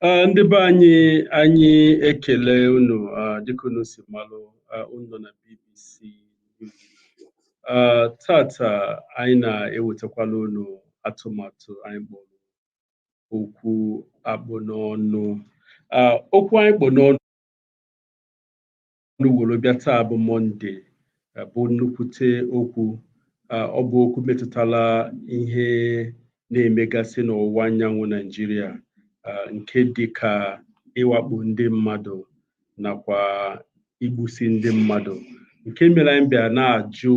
Ah, ndị be anyị anyị ekele unu ah, dịka unu si malụ ah, unu nọ na BBC Ah, tata anyị na-ewetakwala unu atụmatụ anyị kpọrọ okwu akpụ n'ọnụ Ah, okwu anyị kpụ n'ọnụ ọnụ were bịa taa bụ mọnde bụ nnukwute okwu ọ bụ okwu metụtara ihe na-emegasị n'ọwụwa anyanwụ naijiria nke dị ka ịwakpo ndị mmadụ nakwa igbusi ndị mmadụ nke mere anyị bịa na-ajụ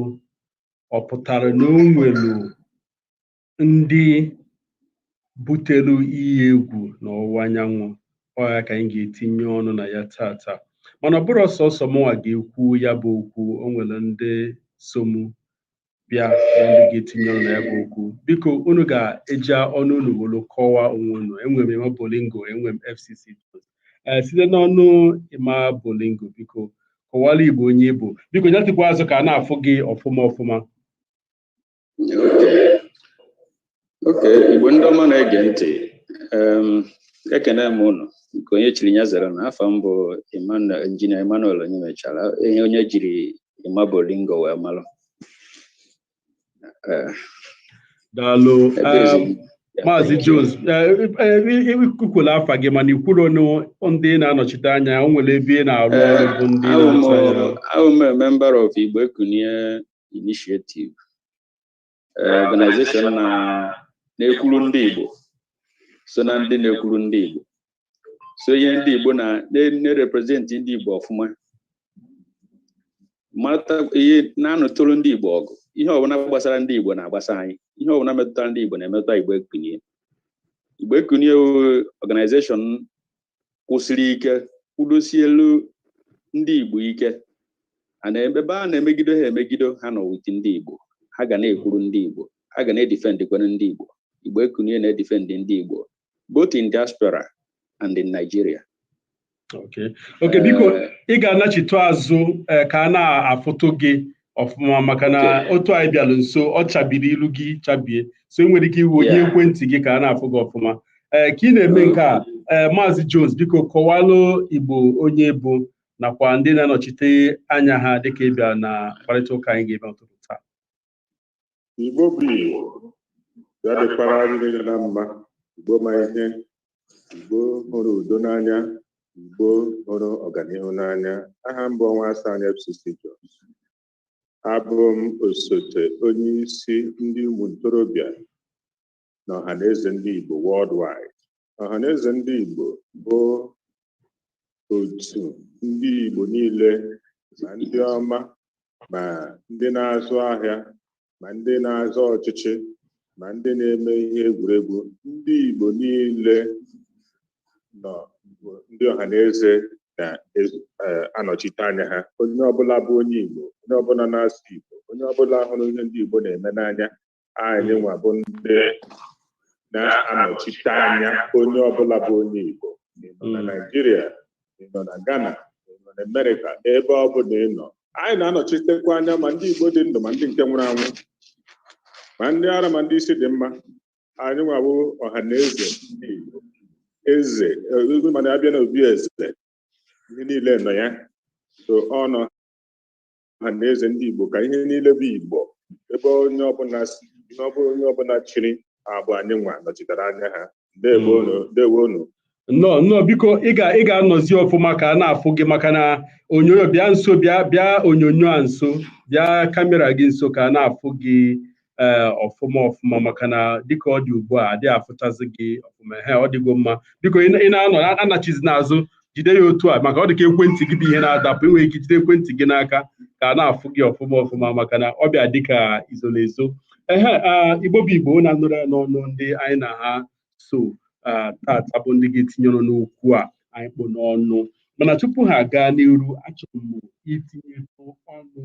ọ pụtara na o nwere ndị butelu iyi egwu n'ọwụwa anyanwụ ọ ya ka anyị ga-etinye ọnụ na ya tata mana ọ bụrọ sọsọ mụnwa ga-ekwu ya bụ okwu o nwere ndị so mụ bịa na ndị ga-etinye ọnụ na ya bụ okwu biko unu ga-eji ọnụ unu wolu kọwaa onwe unu enwere m Emma Bolingo enwere m FCC Jones ee site n'ọnụ Emma Bolingo biko kọwara Igbo onye ị bụ biko natụkwa azụ ka a na-afụ gị ọfụma ọfụma okay Igbo ndị ọma na-ege ntị ekene m unu nke onye chiri ya zere na afa m bụ injinia Emmanuel Onyemechara onye e jiri Emma Bolingo wee malụ daalụ maazị Jones i kwukwala afa gị mana i kwurọ ndị ị na-anọchite anya o nwere ebe ị na-arụ ọrụ na abụ m member of Igbo Ekunie Initiative eh, organization na na-ekwuru ndị Igbo so na ndị na-ekwuru ndị Igbo sonye ndị Igbo na na-representi ndị Igbo ọfụma na-anụtụrụ ndị Igbo ọgụ ihe ọbụla gbasara ndị Igbo na-agbasa anyị ihe ọbụla metụtara ndị Igbo na-emetụta Igbo Ekunie Igbo Ekunie organization kwụsịrị ike kwụdosielu ndị Igbo ike na ebe a na-emegido ha emegido ha nọ with ndị Igbo ha ga na-ekwuru ndị Igbo ha ga na-edifendịkwere ndị Igbo Igbo Ekunie na-edifendị ndị Igbo both in diaspora and in Nigeria okay biko eh, ị ga-anachitụ azụ eh, ka a na-afụtụ gị ọfụma maka na Okay. otu a ị bịara nso ọ chabiri ilu gị chabie so ị nwere ike iwenye Yeah. ekwentị gị ka a na-afụ gị ọfụma ee ka ị na-eme nke a ee maazị Jones biko kọwalụ Igbo onye ị bụ nakwa ndị ị na-anọchite anya ha dịka ị bịara na mkparịta ụka anyị ga-eme ụtụtụ taa Igbo bụ Igbo ya dịkwara anyị niile na mma Igbo ma ihe Igbo hụrụ udo n'anya Igbo hụrụ ọganihu n'anya aha m bụ Onwuasoanya FCC Jones abụ m osote onye isi ndị ụmụ ntorobịa na ọhaneze ndị Igbo worldwide. Ọhaneze ndị Igbo bụ otu ndị Igbo niile ma ndị ọma ma ndị na-azụ ahịa ma ndị na-azọ ọchịchị ma ndị na-eme ihe egwuregwu ndị Igbo niile nọ bụ ndị ọhaneze na-anọchite anya ha onye ọbụla bụ onye Igbo onye ọbụla na-asụ Igbo onye ọbụla hụrụ ihe ndị Igbo na-eme n'anya anyị nwa bụ ndị na-anọchite anya onye ọbụla bụ onye Igbo ma ị nọ na Mm. Naịjirịa ma ị nọ na Ghana ma ị nọ na Amerịka ebe ọ bụla ị nọ anyị na-anọchitekwa anya ma ndị Igbo dị ndụ ma ndị nke nwụrụ anwụ ma ndị ara ma ndị isi dị mma anyị nwa bụ ọha na eze ndị Igbo eze eh, mana abịa na obi eze ihe niile nọ ya so ọ nọ ọha na eze ndị Igbo ka ihe niile bụ Igbo ebe onye ọbụla si ihe ọ bụla onye ọbụla chiri abụ anyị nwa nọchitere anya ha ndewo unu ndewo unu nnọọ nnọọ biko ị ga ị ga-anọzi ọfụma ka a na-afụ gị maka na onyonyo bịa nso bịa bịa onyonyo a nso bịa kamera gị nso ka a na-afụ gị ee eh, ọfụma ọfụma maka na dịka ọ dị ugbu a adịghị afụchazi gị ọfụma he ọ dịgo mma biko ị na-anọ anachizi n'azụ jide ya otu a maka ọ dị ka ekwentị gị bụ ihe na-adapụ i nweghị ike jide ekwentị gị n'aka ka a na-afụ gị ọfụma ọfụma maka na ọ bịa dịka izo na ezo ehe ah, igbo bụ igbo na-anụrụ ya n'ọnụ ndị anyị na ha so ah, tata bụ ndị ga-etinye ọnụ n'okwu a anyị kpụ n'ọnụ mana tupu ha gaa n'iru achọrọ m itinyetụ ọnụ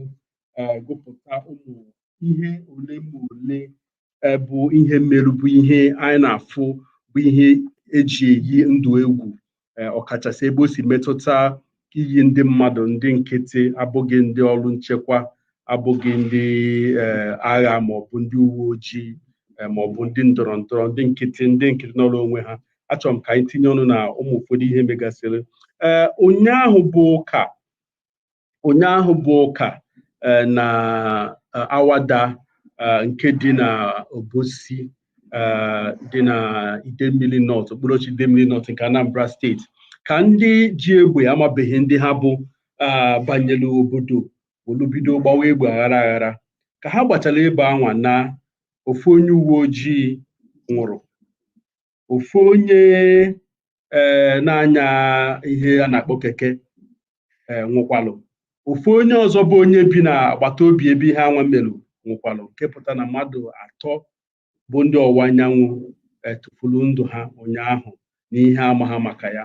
eh, gụpụta ụmụ ihe ole ma ole eh, bụ ihe merụ bụ ihe anyị na-afụ bụ ihe eji eyi ndụ egwu eh, ọkachasị ebe o si metụta iyi ndị mmadụ ndị nkịtị abụghị ndị ọrụ nchekwa abụghị ndị eh, agha maọbụ ndị uwe ojii eh, maọbụ ndị ndọrọ ndọrọ ndị nkịtị ndị nkịtị nọrọ onwe ha achọrọ m ka anyị tinye ọnụ na ụmụ ụfọdụ ihe megasịrị ee ụnyaahụ bụ ụka ụnyaahụ bụ ụka eh, na eh, awada eh, nke dị na obosi dị na idemili nọt okpuru ọchịchị idemili nọt nke anambra steeti ka ndị ji egbe amabeghị ndị ha bụ banyere obodo welu bido gbawa egbe aghara aghara ka ha gbachara ebe anwa na ofu onye uwe ojii nwụrụ ofu onye ee na-anya ihe a na-akpọ keke ee nwụkwalụ ofu onye ọzọ bụ onye bi na agbata obi ebe ihe anwa melụ nwụkwalụ nke pụta na mmadụ atọ bụ ndị ọwụwa anyanwụ tufulu ndụ ha ụnyaahụ n'ihe amaghị maka ya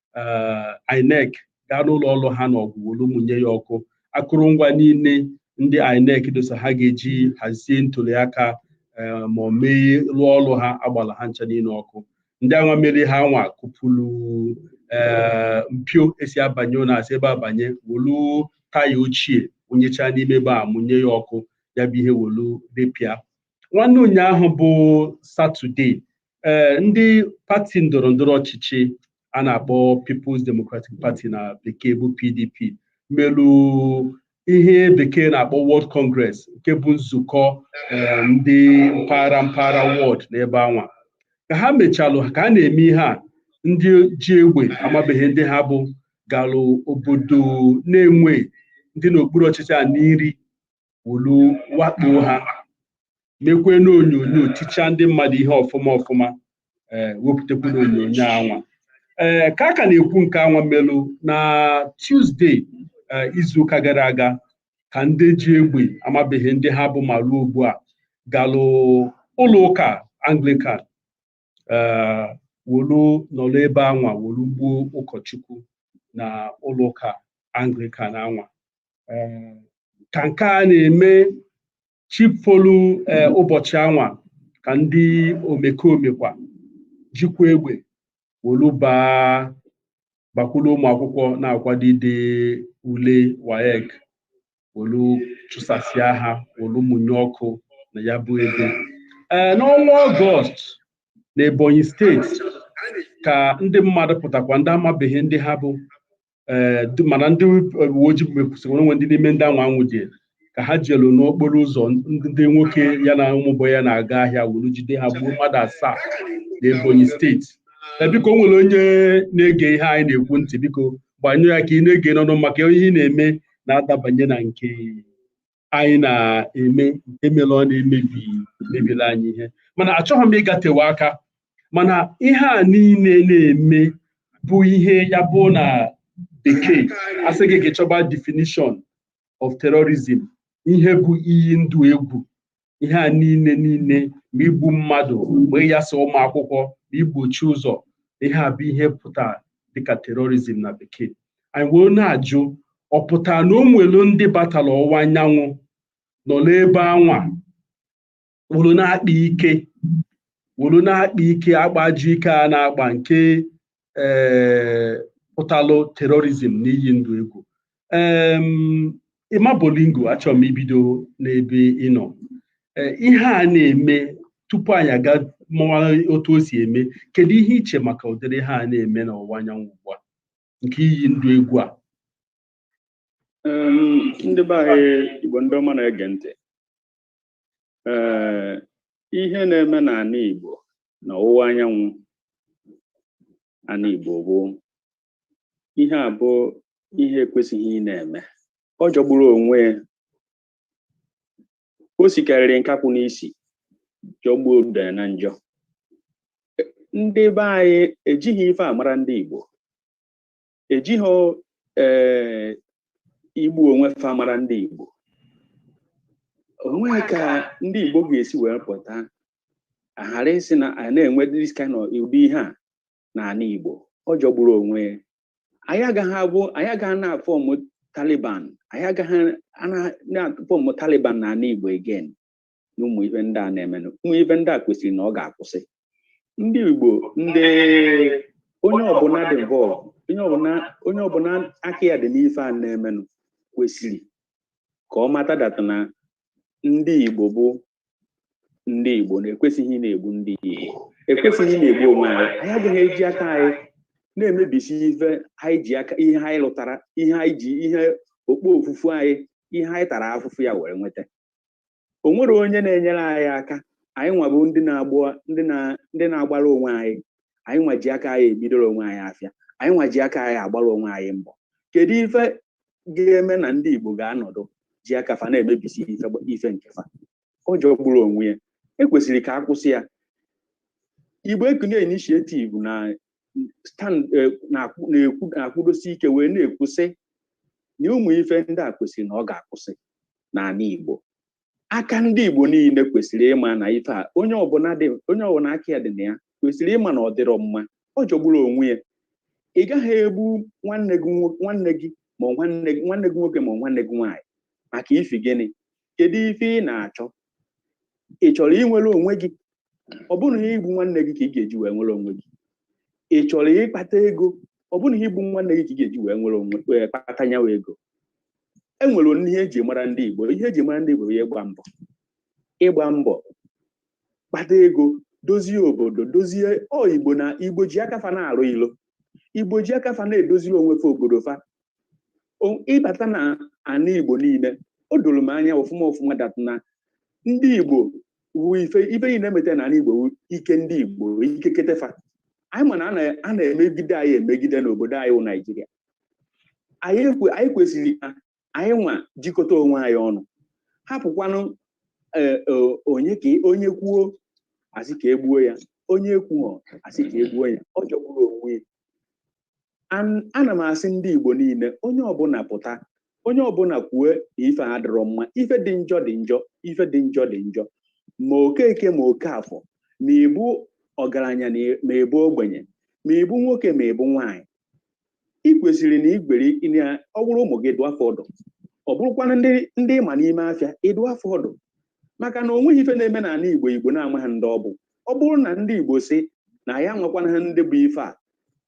eh, INEC gaa n'ụlọ ọrụ ha na Ọgwụ wolu mụnye ya ọkụ akụrụngwa niile ndị INEC dosa ha ga-eji hazie ntuliaka eh, ma ọ mee rụọ ọrụ ha agbala ha ncha niile ọkụ ndị anwa mere ihe anwa kụpụrụ eh, mpio e si abanye na-esi ebe a banye wolu taya ochie wụnyecha n'ime ebe a mụnye ya ọkụ ya bụ ihe wolu repịa nwanne ụnyaahụ bụ satọde ee eh, ndị pati ndọrọ ndọrọ ọchịchị a na-akpọ People's Democratic Party na bekee bụ PDP melu ihe bekee na-akpọ Ward Congress nke bụ nzukọ eh, ndị mpaghara mpaghara wọd n'ebe anwa ka ha mechalụ ka a na-eme ihe a ndị ji egbe amabeghị ndị ha bụ galụ obodo Nenwe dị n'okpuru ọchịchị Aninri wolu wakpoo ha mekwee n'onyonyo tichaa ndị mmadụ ihe ọfụma ọfụma ee wepụtakwu n'onyonyo anwa ee ka a ka na-ekwu nke anwa melụ na Tuesday ee, izuụka gara aga ka ndị ji egbe amabeghị ndị ha bụ ma ruo ugbu a galụ ụlọ ụka Anglican eh, wolu nọrọ ebe anwa wolu gbuo ụkọchukwu na ụlọ ụka anglikan anwa eh, ka nke a na-eme chi folu eh, ụbọchị anwa ka ndị omekome kwa jikwa egbe wolu baa bakwulu ụmụ akwụkwọ na-akwado ide ule waec wolu chụsasịa ha wolu mụnye ọkụ na ya bụ ebe ee n'ọnwa ọgọst na ebonyi steeti ka ndị mmadụ pụtakwa ndị amabeghị ndị ha bụ ee du- mana ndị uwe ojii mekwusịrị o nwe ndị n'ime ndị anwa anwụdị ka ha jelu n'okporo ụzọ ndị ndị nwoke ya na ụmụ bọị ya na-aga ahịa wolu jide ha gbuo mmadụ asaa na ebonyi steeti Ee, biko o nwere onye na-ege ihe anyị na-ekwu ntị biko gbanyụ ya ka ị na-ege n'ọnụ maka ihe ị na-eme na-adabanye na nke anyị na-eme nke mere ọ na-emebi emebiri anyị ihe mana achọghị m ịgatewe aka mana ihe a niile na-eme bụ ihe ya bụ na bekee a sị gị gaa chọba definition of terrorism ihe bụ iyi ndụ egwu ihe a niile niile ma igbu mmadụ ma ịyasa ụmụ akwụkwọ ma igbochi ụzọ ihe a bụ ihe pụtara dịka terorizm na bekee anyị wee na-ajụ ọ pụtara na o nwere ndị batara ọwụwa anyanwụ nọ n'ebe anwa wolu na-akpa ike wolu na-akpa ike agbaji ike a na-agba nke ee pụtalụ terorizm na iyi ndụ egwu ịma bolingo achọrọ m ibido n'ebe ị nọ ihe a na-eme tupu anyị aga mụwa otu o si eme kedu ihe i che maka ụdịrị ihe a na-eme n'ọwụwa anyanwụ ugbu a nke iyi ndụ egwu a ndị be anyị igbo ndị ọma na-ege ntị ee ihe na-eme n'ana Igbo na ọwụwa anyanwụ ana Igbo bụ ihe a bụ ihe ekwesịghị ị na-eme ọ jọgburu onwe ya o sikarịrị nkakwụ n'isi jọgbuo udele na njọ ndị be anyị ejighị ife a mara ndị Igbo ejighị ee eh, igbu onwe fa mara ndị Igbo o nwe ka ndị Igbo ga-esi wee pụta aghara ịsị na a na-enwe this kind of ụdị ihe a n'ana Igbo ọ jọgburu onwe anyị agaghị abụ anyị agaghị na-afọmụ Taliban anyị agaghị na-afọmụ Taliban n'ana Igbo again na ụmụ ife ndị a na-emenụ ụmụ ife ndị a kwesịrị na ọ ga-akwụsị ndị Igbo ndị onye ọbụna dị involved onye ọbụna onye ọbụna aka ya dị n'ife a na-emenụ kwesịrị ka ọ mata that na ndị Igbo bụ ndị Igbo na-ekwesịghị na-egbu ndị Igbo ekwesịghị na-egbu onwe anyị anyị agaghị eji aka anyị na-emebisi ife anyị ji aka ihe anyị lụtara ihe anyị ji ihe okpofufu anyị ihe anyị tara afụfụ ya were nweta o nwerọ onye na-enyere anyị aka anyị nwa bụ ndị na-agbụ ndị na ndị na-agbara onwe anyị anyị nwa ji aka anyị ebidoro onwe anyị afịa anyị nwa ji aka anyị agbara onwe anyị mbọ kedu ife ga-eme na ndị Igbo ga-anọdụ ji aka fa na-emebisi ife ife nke fa ọ jọgburu onwe ya ekwesịrị ka a kwụsị ya Igbo Ekunie Initiative na stand eh, na-akwụ na-ekwu na-akwụdosi ike wee na-ekwu sị na ụmụ ife ndị a kwesịrị na ọ ga-akwụsị n'ana Igbo aka ndị Igbo niile kwesịrị ịma na ife a onye ọbụna dị onye ọbụna aka ya dị na ya kwesịrị ịma na ọ dịrọ mma ọ jọgburu onwe ya ị gaghị egbu nwanne gị nwo- nwanne gị ma ọ nwanne gị nwanne gị nwoke ma ọ nwanne gị nwaanyị maka ifi gịnị kedu ife ị na-achọ ị chọrọ inwere onwe gị ọ bụrọ na igbu nwanne gị ka ị ga-eji wee nwere onwe gị ị chọrọ ịkpata ego ọ bụrọ na igbu nwanne gị ka ị ga-eji wee nwere onwe wee kpata nyawa ego e nwere ihe eji mara ndị Igbo ihe eji mara ndị Igbo bụ ịgba mbọ ịgba mbọ kpata ego dozie obodo dozie ọ Igbo na Igbo ji aka fa na-arụ ilo Igbo ji aka fa na-edoziri onwe fa obodo fa ị bata na ana igbo niile o doro m anya ọfụma ọfụma dat na ndị igbo wu ife ife niile emeta na ana igbo ike ndị igbo ike kete fa anyị ma na a na-emegide anyị emegide n'obodo anyị wụ naijiria anyị kwesịrị ka anyị nwa jikọta onwe anyị ọnụ hapụkwanụ e, e, onye ka onye kwuo a sị ka e gbuo ya onye kwuo a sị ka e gbuo ya ọ jọgburu onwe ya ana m asị ndị Igbo niile onye ọbụla pụta onye ọbụla kwue na ife a adịrọ mma ife dị njọ dị njọ ife dị njọ dị njọ ma okeke ma okeafọ ma ị bụ ọgaranya ma ị bụ ogbenye ma ị bụ nwoke ma ị bụ nwaanyị ị kwesịrị na ị ga-ewere ọ bụrụ ụmụ gị ị dụọ fa ọdụ ọ bụrụkwana ndị ị ma n'ime afịa ị dụọ fa ọdụ maka na o nweghị ife na-eme n'ana Igbo Igbo na-amaghị ndị ọ bụ ọ bụrụ na ndị Igbo sị na anyị amakwanaghị ndị bụ ife a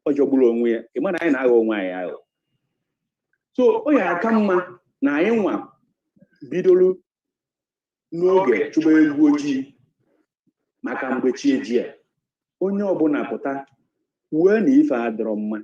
ọ jọgburu onwe ya ị ma na anyị na-aghọ onwe anyị aghụghọ so ọ ya-aka mma na anyị nwa bidoro n'oge chụba eghu ojii maka mgbe chi ejie onye ọbụla pụta kwuo na ife a adịrọ mma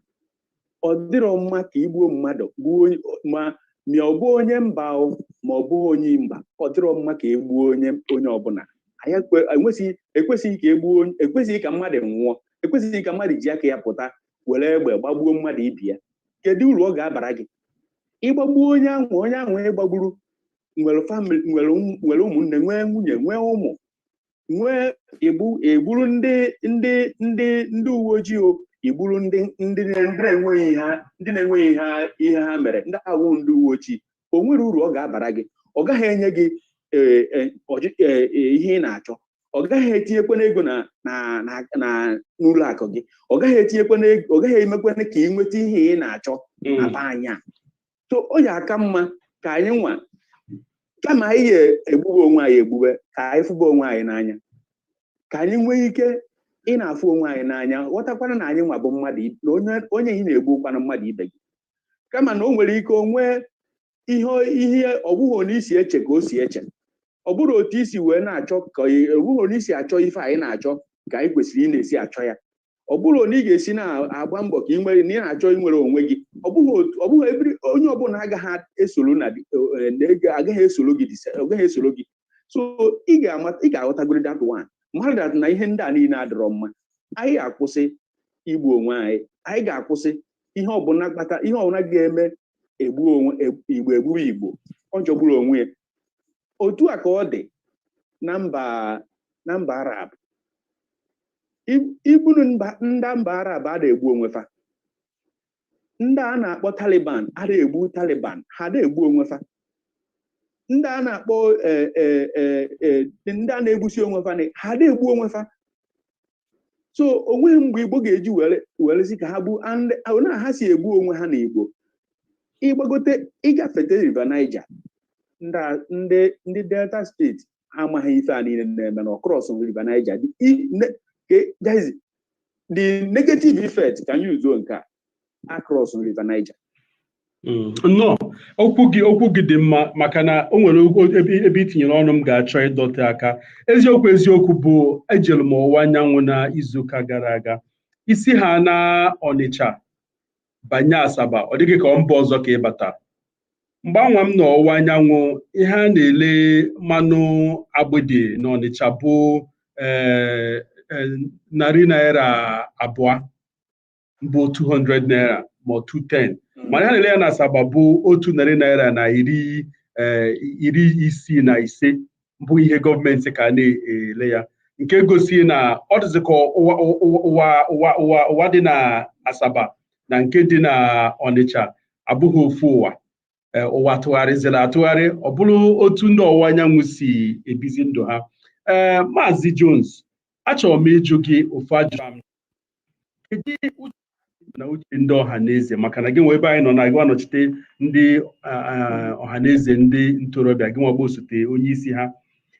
ọ dịrọ mma ka i gbuo mmadụ gbuo onye ma ma ọ bụ onye mba o ma ọ bụghị onye mba ọ dịrọ mma ka e gbuo onye onye ọbụla anyị ekwe- enwesịghị ekwesịghị ka e gbuo onye- ekwesịghị ka mmadụ nwụọ ekwesịghị ka mmadụ ji aka ya pụta were egbe gbagbuo mmadụ ibe ya kedu uru ọ ga-abara gị ị gbagbuo onye ahụ onye ahụ ị gbagburu nwere famili nwere ụmụ- nwere ụmụnne nwee nwunye nwee ụmụ nwee i gbu- i gburu ndị ndị ndị ndị uwe ojii o i gburu ndị ndị na- ndị na-enweghị ihe ha- ndị na-enweghị ihe ha- ihe ha mere ndị a wụ ndị uwe ojii o nwere uru ọ ga-abara gị ọ gaghị enye gị ee, ee, ọjị- ee, ee, ihe ị na-achọ ọ gaghị etinyekwana ego na na na na n'ụlọ akụ gị ọ gaghị etinyekwana ego ọ gaghị emekwana ka ị nweta ihe ị na-achọ na be anyị a so ọ ya-aka mma ka anyị nwa kama anyị ya-egbube onwe anyị egbube ka anyị fụba onwe anyị n'anya ka anyị nwee ike ị na-afụ onwe anyị n'anya ghọtakwana na anyị nwa bụ mmadụ i- na onye onye ị na-egbu wụkwana mmadụ ibe gị kama na o nwere ike o nwee ihe ihe ọ bụghị otu i si eche ka o si eche ọ bụrụ otu i si wee na-achọ ka ị- ọ bụghị otu anyị si achọ ife anyị na-achọ ka anyị kwesịrị ị na-esi achọ ya ọ bụrụ na ị ga-esi na-agba mbọ ka ị nwere na ị na-achọ inwere onwe gị ọ bụghị otu ọ bụghị every onye ọbụla agaghị esoro na di- eh, na ego agaghị esoro gị dise- ọ gaghị esoro gị so ị ga-ama ị ga-aghọtagoro that one mmadụ dat na ihe ndị a niile adịrọ mma anyị akwụsị igbu onwe anyị anyị ga-akwụsị ihe ọbụla kpata ihe ọbụla ga-eme egbu onwe eg- igbo egburu igbo ọ jọgburu onwe ya otu a ka ọ dị na mba na mba arab igbu nụ ndị mba arab ada egbu onwe fa ndị a na-akpọ taliban ada egbu taliban ha ada egbu onwe fa ndị a na-akpọ e, e, e, ndị a na-egbusi onwe fa ha ada egbu onwe fa so o nweghị mgbe igbo ga-eji were sị ka ha bụ na ha si egbu onwe ha na igbo ị gbagote ị gafete river niger ndị delta state ha amaghị ife a niile na-eme na across river Niger the negative effect can you do nke a across river Niger Mm. nnọọ okwu gị okwu gị dị mma maka na o nwere ebe i tinyere ọnụ m ga-achọ ịdọte aka eziokwu eziokwu bụ ejere m ọwụwa anyanwụ na izuụka gara aga i si ha na ọnịcha banye Asaba ọ dị gị ka ọ mba ọzọ ka ị bata mgbe anwa m nọ ọwụwa anyanwụ ihe a na-ele mmanụ agbịdị na Ọnịcha bụ eh, eh, narị naira abụọ bụ 200 naira ma ọ 210 hmm. mana ihe a na-ele ya na Asaba bụ otu narị naira na iri eh, iri isii na ise bụ ihe gọọmenti ka a na-ele ya nke gosi na ọ dịzị ka ụwa dị na Asaba na nke dị na Ọnịcha abụghị ofu ụwa e, ụwa tụgharịziri atụgharị ọ bụrụ otu ndị ọwụwa anyanwụ si ebizi ndụ ha ee Maazị Jones achọrọ m ịjụ gị ofu ajụjụ kedu uche na uche ndị ọha na eze maka na gị nwa ebe anyị nọ na gị nwa nọchite ndị ọha na eze ndị ntorobịa gị nwa bụ osote onye isi ha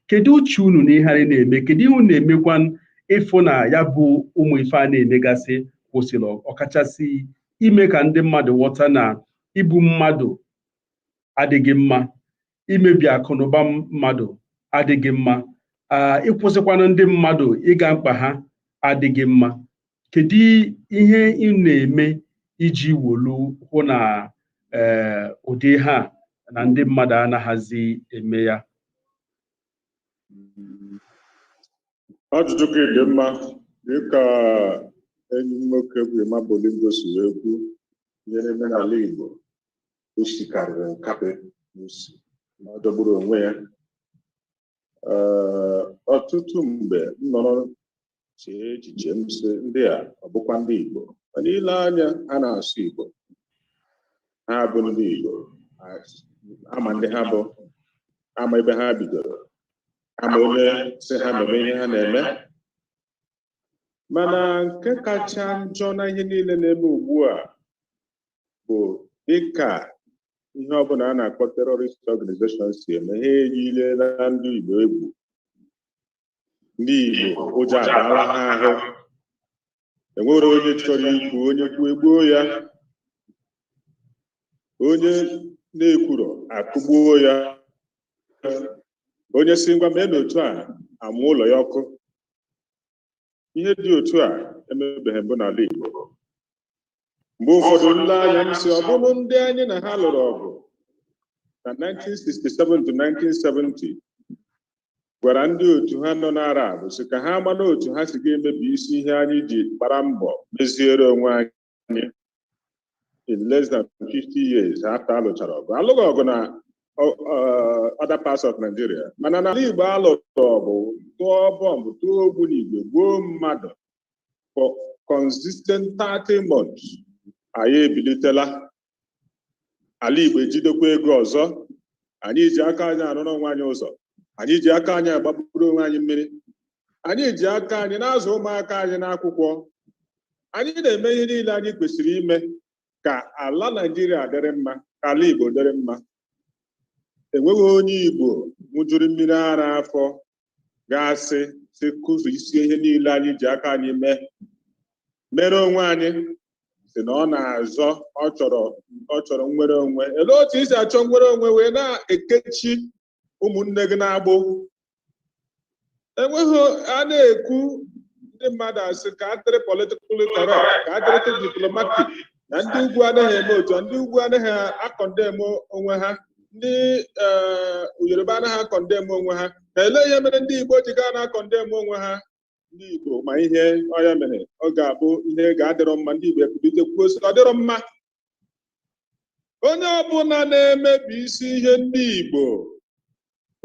kedu uche unu na ihe a na-eme kedu ihe unu na-emekwa ịfụ na ya bụ ụmụ ife a na-emegasị kwụsịrị ọkachasị ime ka ndị mmadụ ghọta na igbu mmadụ adịghị mma imebi akụ na ụba mmadụ adịghị mma ịkwụsịkwanụ ndị mmadụ ịga mkpa ha adịghị mma kedu ihe ị na-eme iji wolu hụ na eh, ụdị ihe a na ndị mmadụ anaghịzi eme ya ajụjụ gị dị mma dịka enyi nwoke bụ Emma Bolingo si wee kwu ihe na-eme n'ala Igbo o sikarịrị nkapị n'isi na ọ jọgburu onwe ya Ee, ọtụtụ mgbe m nọrọ chee echiche m sị ndị a ọ bụkwa ndị Igbo mana i lee anya ha na-asụ Igbo ha bụ ndị Igbo A- a ma ndị ha bụ a ma ebe ha bidoro a ma onye sị ha mebe ihe ha na-eme mana nke kacha njọ na ihe niile na-eme ugbu a bụ dịka ihe ọbụla a na-akpọ terrorist organization si eme ha eyiela ndị Igbo egwu ndị Igbo ụjọ abaala ha ahụ enwere onye chọrọ ikwu onye kwuo egbuo ya onye na-ekwuro akụgbuo ya onye sị ngwa meenụ otu a amụọ ụlọ ya ọkụ ihe dị otu a emebeghị mbụ n'ala Igbo mgbe ụfọdụ m lee anya m sị ọ bụrụ ndị anyị na ha lụrụ ọgụ na 1967 to 1970 gwara ndị otu ha nọ n'Arab sị ka ha mara otu ha si ga-emebi isi ihe anyị ji gbara mbọ meziere onwe anyị in less than 50 years after alụchara ọgụ alụghị ọgụ na other parts of Nigeria mana n'ala Igbo alụrụ ọgụ tụọ bọmbụ tụọ ogbunigwe gbuo mmadụ for consistent 30 months anyị ebilitela ala Igbo ejidekwa ego ọzọ anyị ji aka anyị arụrụ onwe anyị ụzọ anyị ji aka anyị agbapụrụ onwe anyị mmiri anyị ji aka anyị na-azụ ụmụaka anyị n'akwụkwọ anyị na-eme ihe niile anyị kwesịrị ime ka ala Naijiria dịrị mma ka ala Igbo dịrị mma enweghị onye Igbo ṅụjuru mmiri ara afọ ga-asị sị kụjisie ihe niile anyị ji aka anyị mee mere onwe anyị sị na ọ na-azọ ọ chọrọ ọ chọrọ nnwere onwe elee otu i si achọ nnwere onwe wee na-ekechi ụmụnne gị n'agbụ enweghị a na-ekwu ndị mmadụ asị ka adịrị politikali correct ka adịrịtụ diplomatic na ndị ugwu anaghị eme otu a ndị ugwu anaghị akọndem onwe ha ndị eh, yoruba anaghị akọndem onwe ha ka elee ihe mere ndị igbo ji ga na-akọndem onwe ha ndị igbo ma ihe onye mere ọ ga-abụ ihe ga-adịrọ mma ndị igbo ekwulite kwuo sị ọ dịrọ mma onye ọbụla na-emebi isi ihe ndị igbo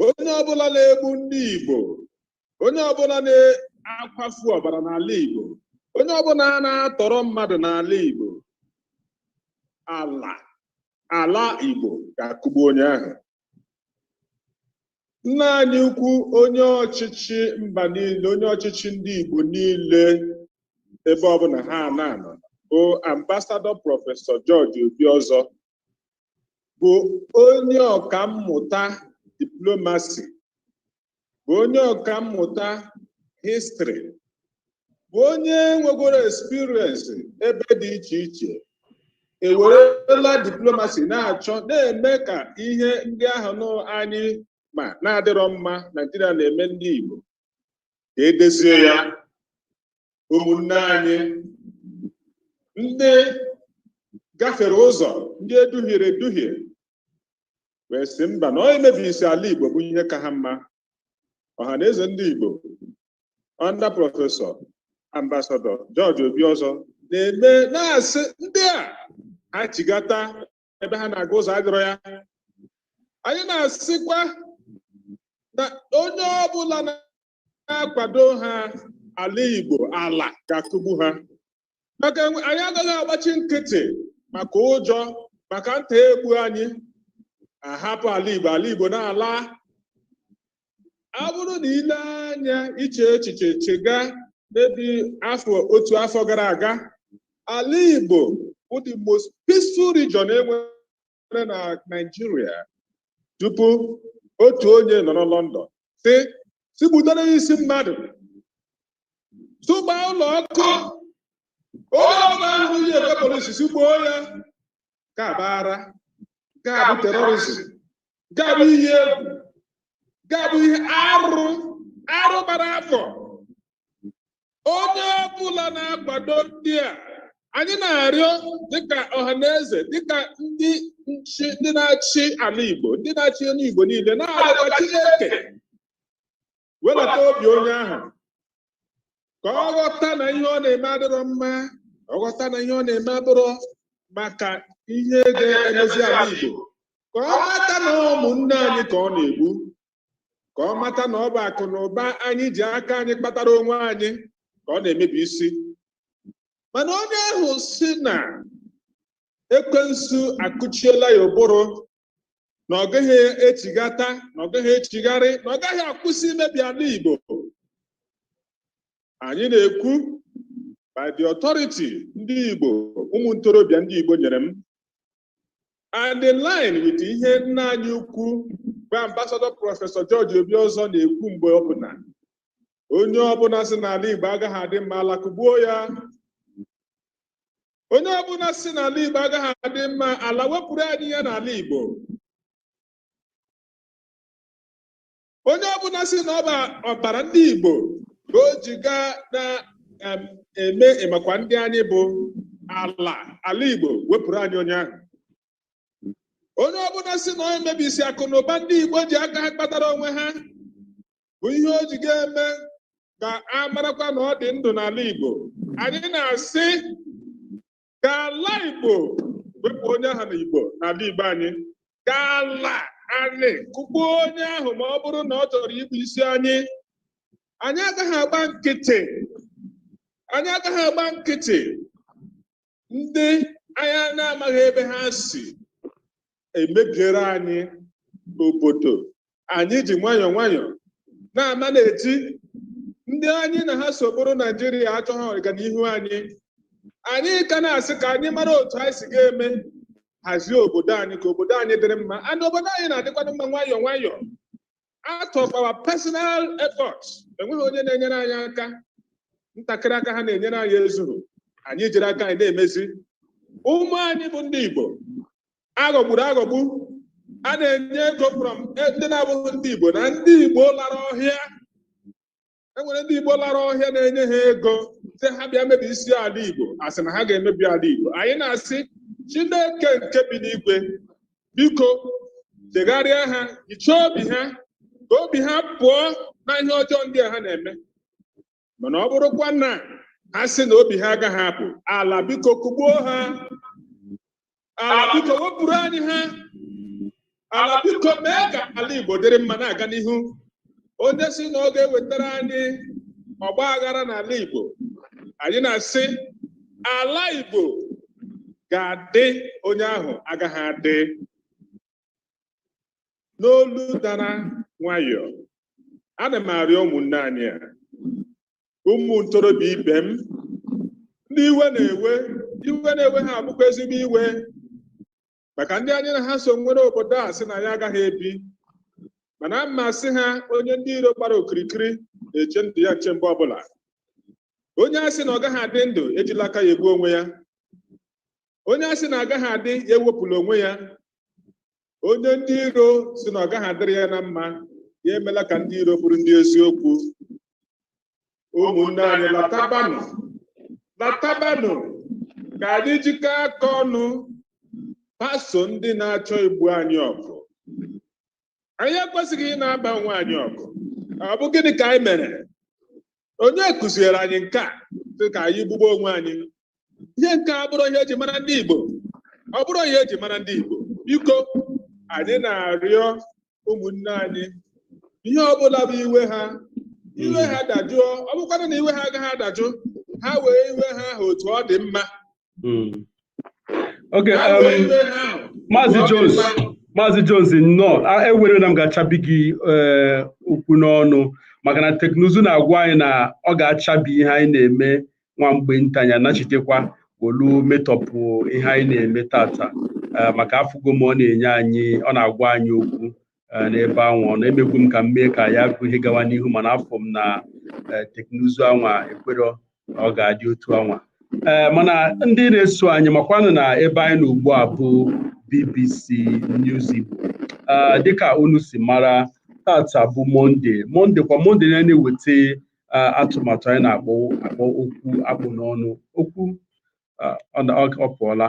onye ọbụla na-egbu ndị igbo onye ọbụla na-akwafu ọbara n'ala Igbo onye ọbụla na-atọrọ mmadụ n'ala Igbo ala ala Igbo ga-akụgbu onye ahụ nna anyị ukwu onye ọchịchị mba niile onye ọchịchị ndị Igbo niile ebe ọbụla ha na-anọ bụ ambasadọ prọfesọ George Obiọzọ bụ onye ọka mmụta diplomasi bụ onye ọka mmụta histrị bụ onye nwegoro experience ebe dị iche iche ewerela diplomasi na-achọ na-eme ka ihe ndị ahụ nụ anyị ma na-adịrọ mma naijiria na-eme ndị igbo ka edozie ya ụmụnne anyị ndị gafere ụzọ ndị eduhiere eduhie wee sị mba na ọ imebisi ala Igbo bụ ihe ka ha mma ọha na eze ndị Igbo under prọfesọ ambasadọ George Obiozọ na-eme na-asị ndị a ha chigata ebe ha na-aga ụzọ adịrọ ya anyị na-asịkwa na onye ọbụla na-akwado ha ala Igbo ala ga-akụgbu ha maka enwe- anyị agaghị agbachi nkịtị maka ụjọ maka nta egbu anyị ahapụ ala Igbo ala Igbo na-ala ọ bụrụ na i lee anya i chee echiche chega maybe afọ otu afọ gara aga ala Igbo bụ the most peaceful region enwe re na Naịjirịa tupu otu onye nọ na London sị sị gbutara ya isi mmadụ sụba ụlọ ọkụ onye ọma ahụ ji ebe polisi sị gbuo ya nke a bụ arụ nke a bụ terrorism nke a bụ ihe egwu nke a bụ ihe arụ arụ gbara afọ onye ọbụla na-akwado ndị a anyị na-arịọ dịka ọha na eze dịka ndị nchi ndị na-achị ala Igbo ndị na-achị ndị Igbo niile na-arịọ Chineke welata obi onye ahụ ka ọ ghọta na ihe ọ na-eme adịrọ mma ọ ghọta na ihe ọ na-eme adịrọ maka ihe ga-emezi ala Igbo ka ọ ghọta na ụmụnne anyị ka ọ na-egbu ka ọ mata na ọ bụ akụ na ụba anyị ji aka anyị kpatara onwe anyị ka ọ na-emebisi mana onye ahụ sị na ekwensu akụchiela ya ụbụrụ na ọ gaghị echigata na ọ gaghị echigharị na ọ gaghị akwụsị imebi ala Igbo anyị na-ekwu by the authority ndị Igbo ụmụ ntorobịa ndị Igbo nyere m and in line with ihe nna anyị ukwu bụ ambasadọ prọfesọ George Obiozọ na-ekwu mgbe ọbụla onye ọbụla sị na ala Igbo agaghị adị mma ala kụgbuo ya onye ọbụla sị na ala Igbo agaghị adị mma ala wepụrụ anyị ya n'ala Igbo onye ọbụla sị na ọ bụ ọbara ndị Igbo ka o ji ga na-eme ịmakwa ndị anyị bụ ala ala Igbo wepụrụ anyị onye ahụ onye ọbụla sị na ọ imebisi akụ na ụba ndị Igbo ji aka ha kpatara onwe ha bụ ihe o ji ga-eme ka a marakwa na ọ dị ndụ n'ala Igbo anyị na-asị ka ala igbo wepụ onye ahụ na igbo n'ala igbo anyị ka ala anyị kụgbuo onye ahụ ma ọ bụrụ na ọ chọrọ igbusi anyị anyị agaghị agba nkịtị anyị agaghị agba nkịtị ndị anyị na-amaghị ebe ha si emebiere anyị obodo anyị ji nwayọọ nwayọọ na-ama na-eti ndị anyị na ha so bụrụ naijiria achọghị ọganihu anyị anyị ka na-asị ka anyị mara otu anyị si ga-eme hazie obodo anyị ka obodo anyị dịrị mma and obodo anyị na-adịkwanụ mma nwayọọ nwayọọ out of our personal efforts enweghị onye na-enyere anyị aka ntakịrị aka ha na-enyere anyị ezughị anyị jiri aka anyị na-emezi ụmụ anyị bụ ndị Igbo aghọgburu aghọgbu a na-enye ego from ndị na-abụghị ndị Igbo na ndị Igbo lara ọhịa e nwere ndị Igbo lara ọhịa na-enye ha ego sị ha bịa mebisie ala Igbo asị na ha ga-emebi ala Igbo anyị na-asị Chineke nke bi n'igwe biko chegharịa ha hichaa obi ha ka obi ha pụọ na ihe ọjọọ ndị a ha na-eme mana ọ bụrụkwa na ha sị na obi ha agaghị apụ ala biko kụgbuo ha ala biko wepụrụ anyị ha ala biko mee ka ala igbo dịrị mma na-aga n'ihu onye sị na ọ ga-ewetara anyị ọgba aghara n'ala igbo anyị na-asị ala igbo ga-adị onye ahụ agaghị adị n'olu dara nwayọọ ana m arịọ ụmụnne anyị a ụmụ ntorobịa ibe m ndị iwe na-ewe iwe na-ewe ha bụkwa ezigbo iwe maka ndị anyị na ha so nwere obodo a sị na ya agaghị ebi ma ana m asị ha onye ndị iro gbara okirikiri na-eche ndụ ya nche mgbe ọbụla onye a sị na ọ gaghị adị ndụ ejila aka ya egbu onwe ya onye a sị na agaghị adị ya ewepụla onwe ya onye ndị iro sị na ọ gaghị adịrị ya na mma ya emela ka ndị iro bụrụ ndị eziokwu ụmụnne anyị latabanụ latabanụ ka anyị jikọ aka ọnụ baso ndị na-achọ igbu anyị ọgụ anyị ekwesịghị ị na-aba onwe anyị ọgụ ọ bụ gịnị ka anyị mere onye kuziere anyị nke a dị ka anyị gbube onwe anyị ihe nke a abụghị ihe eji mara ndị Igbo ọ bụghị ihe eji mara ndị Igbo biko anyị na-arịọ ụmụnne anyị ihe ọbụla bụ iwe ha iwe ha dajụọ ọ bụkwanụ na iwe ha agaghị adajụ ha wee iwe ha ahụ otu ọ dị mma hmm. okay um, maazị Jones maazị Jones nnọọ ewela iwe na m ga-achabi gị eh, okwu n'ọnụ maka na teknụzụ na-agwa anyị na ọ ga-achabi ihe anyị na-eme nwa mgbe nta anyị anachitekwa olu metọpụ ihe anyị na-eme tata eh, maka afụgo m ọ na-enye anyị ọ na-agwa anyị okwu eh, n'ebe anwa ọ na-emekwu m ka m mee ka ya bụ ihe gawa n'ihu mana afụ m na eh, teknụzụ anwa ekwero na ọ ga-adị otu anwa ee eh, mana ndị na-eso anyị makwanụ na ebe anyị nọ ugbu a bụ BBC News Igbo dịka unu si mara tata bụ Mọnde Mọnde kwa Mọnde na a na-eweta atụmatụ anyị na-akpọ okwu akpụ n'ọnụ okwu ọ pụọla